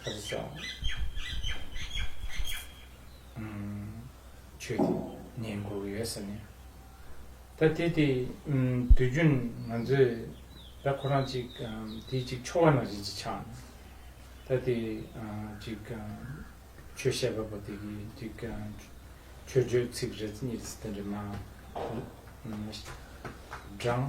ཁ་ཅིག་ཤ་ཆོས་ཀྱི་ཉེན་འགོག་ཡོད་ཟེར་ནས། ད་དེ་དེ་དུས་རྒྱུན་ང་ཚོས་ད་ཁོ་རང་ཅིག་དེ་ཅིག་ཆོ་ག་ནང་བཞིན་ཅིག་ཆགས་ནས། ད་དེ་ཅིག་ཆོས་བཤད་པ་པོ་དེ་གིས་ཅིག་ཆོས་བརྗོད་ཚིག་རེ་གཉིས་རེ་ཟེར་དེ་འདྲ་མ་བགྲང།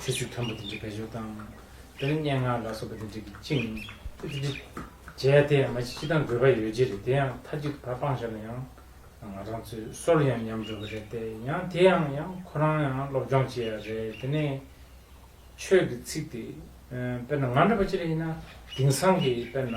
ཚེས་བཅུ་དང་པོ་དེ་འདྲའི་དགའ་སྦྱོར་བཏང། དེ་ལ་སྙན་ངག་ལ་སོགས་པ་དེ་འདྲས་ཀྱིས་བཅིངས། དེ་དེ་འདྲས་བྱས་དེ་མ་ཕྱི་དང་དགོས་པ་ཡོད་ཀྱི་རེད་དེ་ཡང་མཐའ་གཅིག་ཏུ་ད་སྤང་བྱས་ལ་ཡང། ང་རང་ཚོའི་སོར་ཡང་ཉམས་འགྲོ་གི་རེད་དེ་ཡང་དེ་ཡང་ཡང་ཁོ་རང་ཡང་སློབ་སྦྱོང་བྱེད་ཡ་རེད་དེ་ནས། ཆོས་ཀྱི་ཚིག་དེ། དཔེར་ན་ང་འདྲ་བ་ཅི་རིགས་ཡིན་ན་དེང་སང་གི་དཔེར་ན།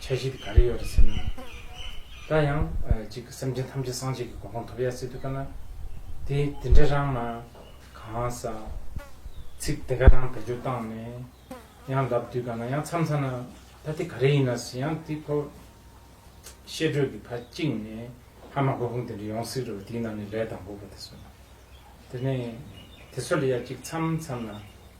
ཆ་ཤས་དེ་ག་རེ་ཡོད་རེད་ཟེར་ན། ད་ཡང་ཅིག་སེམས་ཅན་ཐམས་ཅད་སངས་རྒྱས་ཀྱི་གོ་འཕང་ཐོབ་ཡ་སྲིད་དུ་དཀའ་ན། དེ་དེ་འདྲ་རང་མ་གང་ས། ཚིག་དེ་ག་རང་བེད་སྤྱོད་བཏང་ནས། ཡང་ལབ་དུས་དཀའ་ན་ཡང་མཚམས་ཚར་ན། ད་དེ་ག་རེ་ཡིན་ན་ཟེར་ཡང་དེ་ཁོ། བཤད་སྒྲོས་ཀྱི་ཕར་གཅིག་ནས་ཧ་མ་གོ་ཧུམ་དེ་འདྲ་ཡོང་སྲིད་རེད་བ་དེའི་ནང་ནས་ལས་དང་པོ་བ་དེ་སོ་ན། དེ་ནས་དེ་སོ་ལ་ཡ་ཅིག་མཚམས་མཚམས་ན།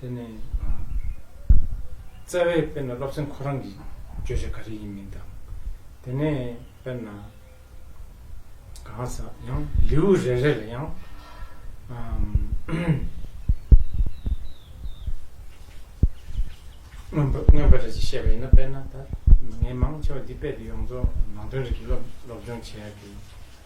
དེ་ནི་བཙལ་བས་དཔེར་ན་སློབ་ཚན་ཁོ་རང་གི་བརྗོད་བྱ་ག་རེ་ཡིན་མིན་དང། དེ་ནས་དཔེར་ན་གང་ཟག་ཡང་ལེའུ་རེ་རེ་ལ་ཡང། མངོན་པ་རེ་རེ་བཤད་པ་ཡིན་ན་དཔེར་ན་ད་ངས་མང་ཆེ་བ་འདི་དཔེ་དེ་ཡོངས་རྫོགས་ནང་དོན་རིགས་ཀྱི་སློབ་སྦྱོང་བྱས་ཏེ།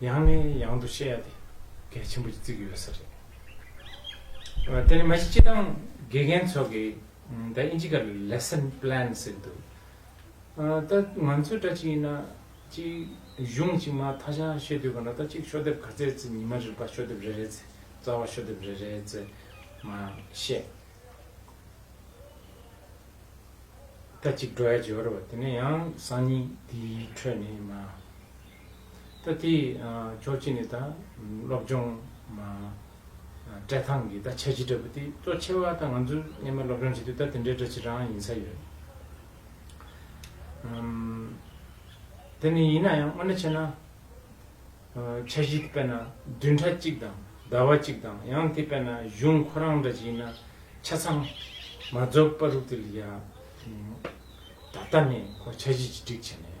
ཡང་ནས་ཡང་དུ་བཤད་དེ་གལ་ཆེན་པོ་ཅིག་བརྩིགས་ཡོད་ས་རེད། དེ་ནི་མ་གཞི་སྤྱི་བཏང་དགེ་རྒན་ཚོ་གི་ད་ཨིན་ཇི་ག་ལ Lesson Plan ཟེར་གི་འདུག་ད་ང་ཚོས་ད་ཅི་ཡིན་ན་ཅིག་གཞུང་ཅིག་མ་ཐ་ཆ་ཤེས་དུས་ག་འདྲ་ད་ཅིག་ཤོག་དེབ་ག་ཚད་ཚེ་ཉི་མ་རེར་པ་ཤོག་དེབ་རེ་རེ་ཚེ་རྩ་བ་ཤོག་དེབ་རེ་རེ་ཚེ་མ་བཤད། ད་ཅིག་འགྲོ་ཡ་འཇོར་བ་དེ་ནས་ཡང་སང་ཉིན་དེའི་ཁྲོད་ནས་མ། ད་དེ་ཕྱོགས་གཅིག་ནས་ད་སློབ་སྦྱོང་བཀྲལ་ཐང་གི་ད་ཆ་རྒྱུ་འདྲ་པོ་དེ་གཙོ་ཆེ་བ་ད་ང་ཚོ་སླེབས་མ་སློབ་སྦྱོང་བྱེད་དུས་ད་དེ་འདྲའི་སྒྲ་ཕྱི་རང་ཡིན་ས་ཡོད། དེ་ནི་ཡིན་ན་ཡང་སྔོན་ན་ཆེ་ན་ཆ་གཞི་དཔེར་ན་བདུན་ཕྲག་གཅིག་དང་ཟླ་བ་གཅིག་དང་ཡང་དེ་དཔེར་ན་གཞུང་ཁོ་རང་འདྲ་ཅིག་ཡིན་ན་ཆ་ཚང་མ་རྫོགས་པ་རུག་དེ་ལ་ཡ། ད་ལྟ་ནས་ཁོ་ཆ་གཞི་གཅིག་སྒྲིག་བྱས་ནས་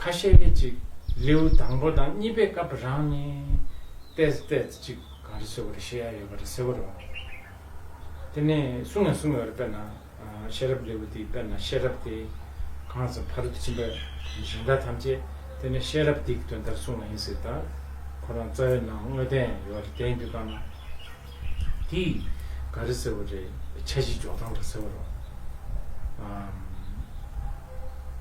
ཁ་ཤས་ནི་གཅིག་ལེའུ་དང་པོ་དང་གཉིས་པའི་སྐབས་རང་ནི། ཏས་ཏས་ཅིག་གང་རེ་ཟེར་བ་རེ་བཤད་ཡ་ཡོད་པ་རེ་ཟེར་བ་རེ་བ། དེ་ནས་གསུང་ཡང་གསུང་ཡོད་རེ་དཔེར་ན། ཤེས་རབ་ལེའུ་དེའི་དཔེར་ན་ཤེས་རབ་དེ། གང་ཟག་ཕ་རོལ་ཏུ་ཕྱིན་པའི་གཞན་དག་ཐམས་ཅད་དེ་ནི་ཤེས་རབ་དེའི་དོན་ལྟར་གསུངས་བ་ཡིན་ཟེར་དང། ཁོ་རང་རྩ་བའི་ནང་དངོས་བསྟན་ཡོད་རེ་བསྟན་དུས་གང་ན། དེ་ག་རེ་ཟེར་བ་རེད་ཆ་གཞི་འཇོག་སྟངས་ལ་ཟེར་བ་རོ།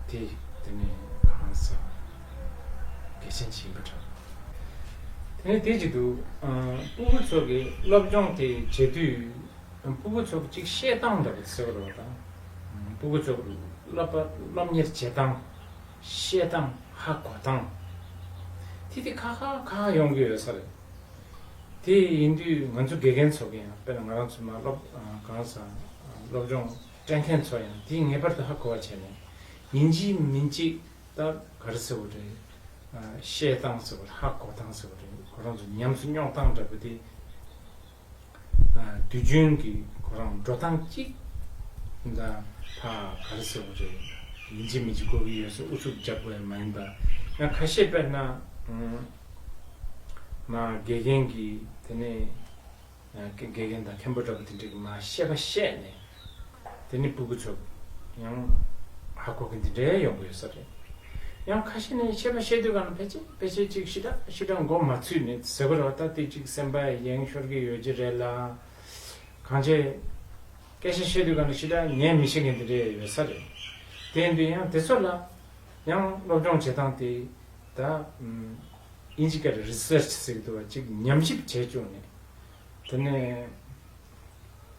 དེ་དེ་ནས་གང་ཟེར་བ། གལ་ཆེན་གྱི་ཡིན་པ་འདྲ། དེ་ནས་དེ་ཅིག་འདུག་སྤུ་བུ་ཚོ་གི་སློབ་སྦྱོང་དེ་བྱེད་དུས་སྤུ་བུ་ཚོ་གཅིག་བཤད་སྟངས་འདྲ་པོ་ཟེར་བ་རོ། སྤུ་བུ་ཚོ་སློབ་པ་སློབ་གཉེར་བྱེད་སྟངས་བཤད་སྟངས་ཧ་གོ་སྟངས་དེ་དེ་ཁ་ཁ་ཁ་ཁ་ཡོང་གི་ཡོད་ས་རེད། དེ་ཡིན་དུས་ང་ཚོ་དགེ་རྒན་ཚོ་གི་ཡང་དཔེར་ན་ང་རང་ཚོ་མ་སློབ་གང་སང་སློབ་སྦྱོང་སྤྲད་མཁན་ཚོ་ཡང་དེ་ངེས་པར་དུ་ཧ་གོ་བ་བྱས་ནས་ཡིན་གཅིག་མིན་གཅིག་ལྟར་ག་རེ་ཟེར་བ་རེད། བཤད་སྟངས་ཟེར་བ་རེད་ཧ་གོ་སྟངས་ཟེར་བ་རེད་ཁོ་རང་ཚོ་ཉམས་སུ་རྙོག་སྟངས་འདྲ་པོ་དེ། དུས་རྒྱུན་གྱི་ཁོ་རང་འགྲོ་སྟངས་གཅིག་འདྲ་ཕ་ག་རེ་ཟེར་བ་རེད། ཡིན་གཅིག་མིན་གཅིག་གོ་གི་ཡོད་སྲིད་ཨུ་ཚུགས་རྒྱག་པའི་མ་ཡིན་པ། ཡང་ཁ་ཤས་དཔེར་ན། མ་དགེ་རྒན་གྱིས་དེ་ནས་དགེ་རྒན་དང་མཁན་པོ་འདྲ་པོ་དེ་འདྲས་ཀྱིས་མ་ཤེས་པ་བཤད་ནས་དེ་ནི་སྤུ་གུ་ཚོགས་ཡང་ཧ་གོ་གི་འདི་འདྲའི་ཡོང་གི་ཡོད་ས་རེད། ཡང་ཁ་ཤས་ནས་ཤེས་པ་ཤེས་འདོད་ག་ན་ཕལ་ཆེ་ཕལ་ཆེ་གཅིག་ཤི་དྲག་ཤི་དྲག་མགོ་མ་ཚུད་ནས་ཟེར་བ་ར་བ་ད་ལྟའི་གཅིག་སེམས་པ་ཡེངས་ཤོར་གི་ཡོད་ཀྱི་རེད་ལ། གང་བྱས། སྐད་ཆ་བཤད་དུས་ག་ན་ཤི་དྲག་ཉན་མི་བྱེད་མཁན་འདི་འདྲའི་ཡོད་ས་རེད། དེ་ཡིན་དུས་ཡང་དེ་ཚོ་ལ་ཡང་སློབ་སྦྱོང་བྱེད་སྟངས་དེ་ད། ཨིན་ཇི་སྐད་ལ Research ཟེར་གི་འདུག་བ་གཅིག་ཉམས་ཞིབ་བྱས་བཅུག་ནས་དེ་ནས།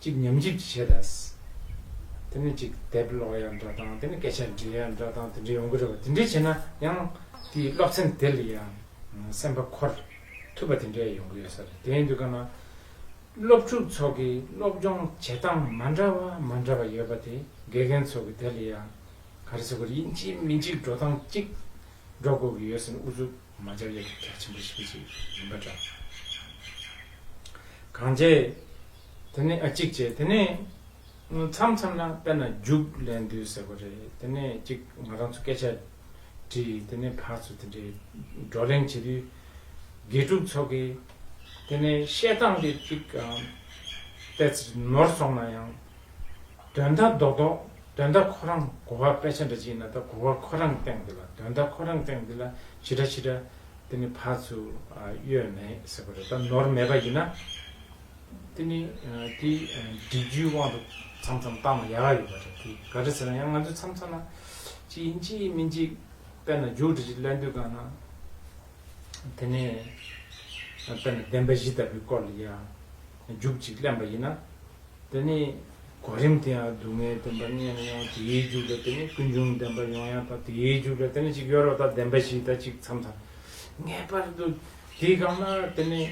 གཅིག་ཉམས་ཞིབ་ཀྱི་བྱེད་སྟངས། དེ་ནི་གཅིག་དེབ་ཀློག་ཡ་འདྲ་དང་དེ་ནི་སྐད་ཆ་འདྲི་ཡ་འདྲ་དང་དེ་འདྲ་ཡོང་གི་རེད་བ་དེ་འདྲ་བྱས་ན་ཡང་དེའི་སློབ་ཚན་དེ་ལ་ཡང་སེམས་པ་འཁོར་ཐུབ་པ་དེ་འདྲ་ཡོང་གི་ཡོད་ས་རེད་དེའི་འདུག་ག་ན་སློབ་ཕྲུག་ཚོགས་ཀྱི་སློབ་སྦྱོང་བྱེད་སྟངས་མ་འདྲ་བ་མ་འདྲ་བ་ཡོད་པ་དེ་དགེ་རྒན་ཚོགས་ཀྱི་དེ་ལ་ཡང་ག་རེ་ཟེར་དགོས་རེད་དབྱིན་ཇིའི་མི་འཇིགས་འགྲོ་སྟངས་གཅིག་འགྲོ་དགོས་ཀྱི་ཡོད་ས་རེད་འུ་ཚོ། མ་འཇམ་དབྱར་གྱི་བྲག་ཆེན་པོ་ཞིག་ཅིག་ཡིན་པ་འདྲ། གང་བྱས། དེ་ནས་ཨ་ཅིག་བྱས་དེ་ནས། མཚམས་མཚམས་ན་དཔེར་ན་རྒྱུགས་ལེན་དུས་ཟེར་བ་རེད་དེ་ནས་ཅིག་ང་རང་ཚོ་སྐད་ཆ་དྲིས་དེ་ནས་ཕར་ཚུར་དེ་འདྲའི་བགྲོ་གླེང་བྱེད་དུས། དགེ་ཕྲུག་ཚོ་གིས། དེ་ནས་བཤད་སྟངས་དེ་ཅིག། ནོར་སོང་ན་ཡང། དོན་དག་རྡོག་རྡོག་དོན་དག་ཁོ་རང་གོ་བ་དཔེ་ཆ་འདྲ་ཅིག་ན་ད་གོ་བ་ཁོ་རང་སྟེང་འདི་ལ་དོན་དག་ཁོ་རང་སྟེང་འདི་ལ་ཇི་འདྲ་ཇི་འདྲ་དེ་ནི་བག་ཚུ་གཡོས་མེད་ཟེར་བ་རེད་ད་ནོར་མེད་པ་ཡིན་ན་དེ་ནི་དེ་འབྲི་རྒྱུའི་དབང་དུ་མཚམས་མཚམས་བཏང་ན་ཡག་ཡག་ཡོད་པ་རེད་དེ་ག་རེ་ཟེར་ན་ཡང་ང་ཚོས་མཚམས་མཚམས་ན་ཅི་ཡིན་ཅི་ཡིན་མིན་ཅིག་དཔེར་ན་རྒྱུགས་འབྲི་ཅིག་གླན་དུས་གང་ན་དེ་ནས་དཔེར་ན་བདེན་པ་བཞི་ལྟ་བུའི་སྐོར་ལ་ཡང། རྒྱུག་ཅིག་གླེན་པ་ཡིན་ན། དེ་ནི་གོ་རིམ་དེ་ཡང་སྡུག་བསྔལ་བདེན་པ་ལྔས་ནི་ཡང་དེའི་རྒྱུ་འདྲ་དེ་ནི་ཀུན་འབྱུང་བདེན་པ་ཡོངས་ཡངས་དང་དེའི་རྒྱུ་འདྲ་དེ་ནི་ཅིག་ཡོད་རོ་དང་བདེན་པ་བཞི་དང་ཅིག་མཚམས་དང། ངེས་པར་དུ་དེའི་གམ་ན་དེ་ནི་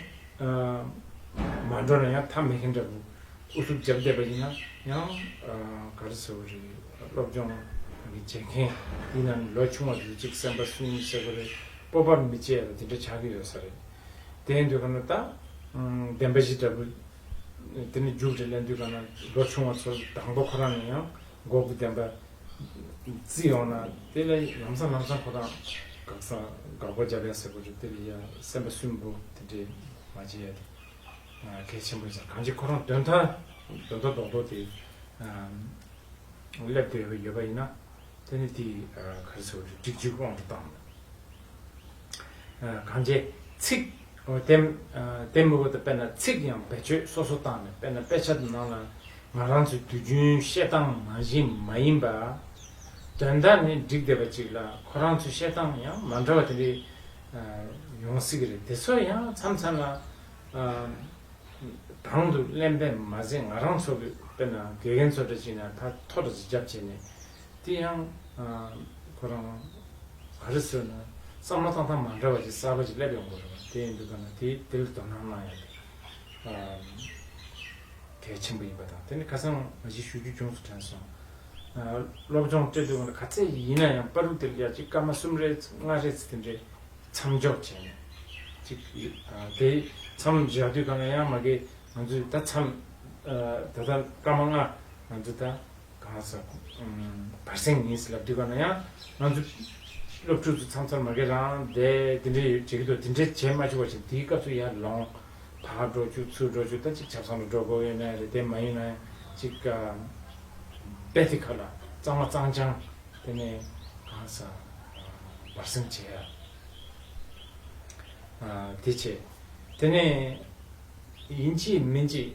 མ་འགྲོ་ན་ཡང་ཐ་མི་མཁན་འདྲ་བོ་ཨུ་ཐུག་བརྒྱབ་བསྡད་པ་ཡིན་ན་ཡང་ག་རེ་ཟེར་བ་རེད་སློབ་སྦྱོང་གི་བྱེད་མཁན་ཡིན་ན་ནི་ལོ་ཆུང་བ་དེ་ཚོ་ཅིག་སེམས་པ་སུན་སེ་གོ་རེ་སྤོབས་པ་མི་བྱེད་ལ་དེ་འདྲ་བྱ་གི་ཡོད་ས་རེད། དེ་ཡིན་དུས་གང་ན་ད། བདེན་པ་བཞི་འདྲ་བུ། དེ་ནི་རྒྱུ་འབྲས་ལས་འདུས་གང་ན་ལོ་ཆུང་བ་ཚོར་དང་པོ་ཁོ་རང་ནས་ཡང་འགོག་གི་བདེན་པ། བརྩི་ཡོང་ན་དེ་ལ་ལམ་སང་ལམ་སང་ཁོ་རང་དགག་ས་དགག་པ་རྒྱབ་ཡ་ཟེར་དགོས་རེད་དེ་ལ་ཡ་སེམས་པ་སུན་པོ་དེ་འདྲས་མ་བྱེད་ཡ་དེ་གལ་ཆེན་པོ་ཟེར་གང་ཅི་ཁོ་རང་དོན་མཐའ་དོན་མཐའ་རྡོག་རྡོག་དེ་སླེབས་དགོས་ཡོད་པ་ཡིན་ན་དེ་ནི་དེ་ག་རེ་ཟེར་བ་རེད་འགྲིག་འཇུག་དབང་དུ་བཏང། གང་བྱེད། ཚིག། དེ་མི་བོ་དང་དཔེར་ན་ཚིག་ཡང་བེད་སྤྱོད་སོ་སོ་བཏང་ནས་དཔེར་ན་དཔེ་ཆ་དེ་ནང་ལ་ང་རང་ཚོའི་དུས་རྒྱུན་བཤད་སྟངས་ནང་བཞིན་མ་ཡིན་པ། དོན་དག་ནི་འགྲིག་བསྡད་པ་ཅིག་ལ་ཁོ་རང་ཚོའི་བཤད་སྟངས་ཡང་མ་འདྲ་བ་དེ་འདྲའི་ཡོང་སྲིད་ཀྱི་རེད་དེ་ཚོ་ཡང་མཚམས་མཚམས་ལ་དང་དུ་གླེན་པས་མ་ཟད་ང་རང་ཚོ་དཔེར་ན་དགེ་རྒན་ཚོ་འདྲ་ཅིག་ན་ད་ཐོ་འདྲ་ཅིག་བརྒྱབ་བྱས་ནས་དེ་ཡང། ཁོ་རང། ག་རེ་བཟོས་ན། བསམ་བློ་བཏང་སྟངས་མ་འདྲ་བ་ཅིག་གསར་པ་ཅིག་སླེབས་ཡོང་གི་རེད་པ་དེ་འདི་ག་ན་དེ་དེ་ལ་དོ་སྣང་གནང་ཡོང་དེ། གལ་ཆེན་པོ་ཡིན་པ་དང་དེ་ནི་ཁ་སང་ང་ཅིག་ཞུ་རྒྱུ་བྱུང་སོ་དྲན་སོང། སློབ་སྦྱོང་སྤྲད་དུས་ག་ཚད་ཅིག་ཡིན་ན་ཡང་པར་རིགས་དེ་ལ་ཡར་གཅིག་སྐར་མ་གསུམ་རེ་ལྔ་རེ་ཚུལ་དེ་འདྲའི་མཚམས་འཇོག་བྱས་ནས་ཅིག་དེ་མཚམས་བཞག་དུས་ག་ན་ཡང་མ་གི་ང་ཚོས་ད་མཚམས་ད་ལྟ་སྐར་མ་ལྔ་ང་ཚོས་ད། གང་ཟག་བར་གསེང་ངེས་ཟིན་ལ་བསྡུས་པ་ན་ཡང་ང་ཚོ་སློབ་ཕྲུག་ཚོ་ཚང་ཚར་མ་གེ་རང་དེ་འདི་འདྲའི་ཡོད་བྱེད་ཀྱི་འདུག་དེ་འདྲའི་བྱེད་མ་བཅུག་བ་བྱས་དེའི་སྐབས་སུ་ཡར་ལོངས་བར་འགྲོ་བཅུག་ཚུར་འགྲོ་བཅུག་ད་ཅིག་ཆབ་སང་ལ་འགྲོ་དགོས་ཡོད་ན་རེད་དེ་མ་ཡིན་ན་ཅིག་རྦད་དེ་ཁ་ལ་གཙང་མ་གཙང་སྤྱང་དེ་ནས་གང་ཟག་བར་གསེང་བྱས་ཡ་དེ་བྱས་དེ་ནས་ཡིན་གཅིག་མིན་གཅིག